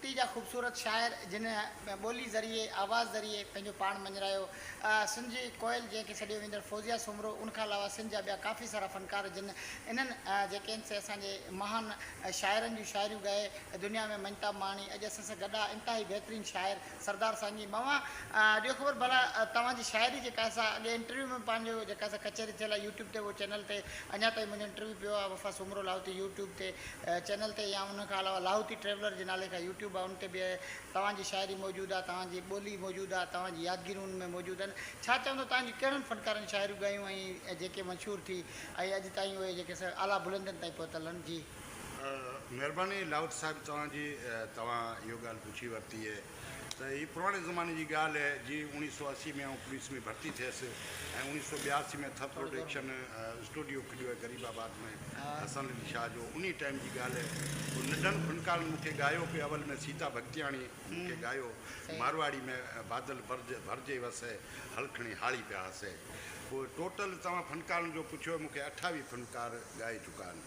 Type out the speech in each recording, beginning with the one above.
اتي جا خوبصورت شاعر جن ٻولي ذريعي، آواز ذريعي پنهنجو پاڻ مڃرايو. سنڌ جي ڪوئل جنهن کي سڏيو ويندڙ فوزيه سومرو ان کان علاوه سنڌ جا ٻيا ڪافي سارا فنڪار جن انهن جيڪي آهن سي اسان جي مهان شاعرن جون شاعريون ڳائي دنيا ۾ مڃتا ماڻي اڄ اسان سان گڏ آهي انتهائي بهترين شاعر سردار سائينجي مئا ڏيو خبر ڀلا توهان جي شاعري جي ڪاسا اڳي انٽرويو ۾ پنهنجو جيڪا سا ڪچهري ٿيل آهي يوٽيوب تي اهو چينل تي اڃا تائين منهنجو انٽرويو پيو آهي وفا سومرو لاهوتي يوٽيوب تي چينل تي يا ان کان علاوه لاهوتي ٽريولر جي نالي کان يوٽيوب آهي ان تي به توهان جي شاعري موجود آهي توهان جي ٻولي موجود آهي توهان جي يادگيرون ان ۾ موجود آهن ڇا چوندو توهان جي ڪهڙن فنڪارن شاعريون ڳايون ۽ جيڪي مشهور ٿي ۽ اڄ تائين اهي جيڪي سا اعليٰ بلندين تائين پهتل آهن جي مھرباني لاھوت صاحب توھان جي توھان اھو ڳالھ پڇي ورتي اھي ته ھي پراڻي زماني جي ڳالھ اھي جي اوڻيھ سؤ اسي ۾ آئون پوليس ۾ ڀرتي ٿيس ۽ اوڻيھ سؤ ٻياسي ۾ ٿر پروڊڪشن اسٽوڊيو کليو اھي غريب آباد ۾ حسن علي شاھ جو انھي ٽائيم جي ڳالھ اھي پوء ننڍن فنڪارن مونکي ڳايو پي اول ۾ سيتا ڀڳتياڻي مونکي ڳايو مارواڙي ۾ بادل ڀرجي وسي ھل کڻي ھاڙي پيا ھسي پوء ٽوٽل توھان فنڪارن جو پڇيو مونکي اٺاويھ فنڪار ڳائي چڪا آھن.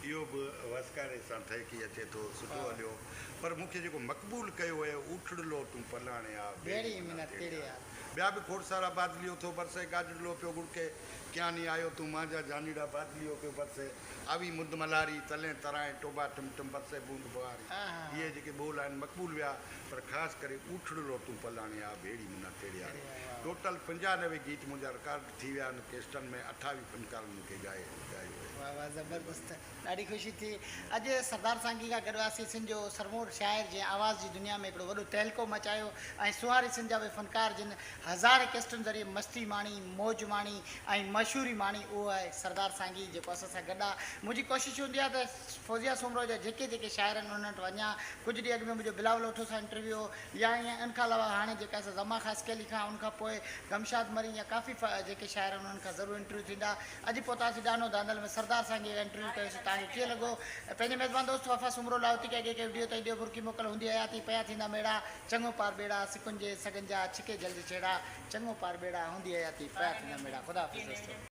اهو به وسڪاري سان ٺهڪي اچي ٿو، سٺو هليو، پر مون کي جيڪو مقبول ڪيو هيء، اوٺڙلو تون پلاڻي آء، ڀيڙي منا تيڙي آء. ٻيا به کوڙ سارا بادليو ٿو برسي، گاجڙلو پيو ڳڙڪي، ڪياني آيو تون مانجهان جانيڙا بادليو پيو برسي، آوي مند ملهاري، تلين ترائين ٽوڀا ٽم ٽم برسي بوند ٻهاري. اهي جيڪي ٻول آهن مقبول ويا، پر خاص ڪري اوٺڙلو تون پلاڻي آء، ڀيڙي منا تيڙي آء. ٽوٽل پنجاهه نوي گيت منهنجا رڪارڊ ٿي ويا آهن ڪيسٽن ۾ اٺاوي فنڪارن مون کي ڳائي ڳايو آهي. واھ واھ زبردست ڏاڍي خوشي ٿي اڄ سردار سانگي کان گڏ هئاسين سنڌ جو سرمور شاعر جنهن آواز جي دنيا ۾ هڪڙو وڏو تهلڪو مچايو ۽ سونهاري سنڌ جا اهي فنڪار جن هزارين ڪيسٽن ذريعي مسٽي ماڻي موج ماڻي ۽ مشهوري ماڻي اهو آهي سردار سانگي جيڪو اسان سان گڏ آ منهنجي ڪوشش هوندي آ ته فوزيه سومرو جا جيڪي جيڪي شاعر آهن انهن وٽ وڃان ڪجهه ڏينهن اڳ ۾ منهنجو بلاول اوٺو سان انٽرويو هو يا ائين ان کان علاوه هاڻي جيڪا سا زمان خاصخي علي خان ان کان پوء گمشاد مرين يا ڪافي جيڪي شاعر آهن انهن کان ضرور انٽرويو ٿيندا اڄ پهتاسي ڏانو ڌانڌل ۾ سردار سائين جي انٽرويو ڪيو سي توهان کي ڪيئن لڳو پنهنجي ميزبان دوست وفا سومرو لاهوتي ڪي ڪي ڪي وڊيو تائين ڏيو برقي موڪل هوندي حياتي پيا ٿيندا ميڙا چڱو پار ٻيڙا سڪن جي سڳن جا ڇڪي جل جي ڇيڙا چڱو پار ٻيڙا هوندي حياتي پيا ٿيندا ميڙا خدا حافظ دوستو.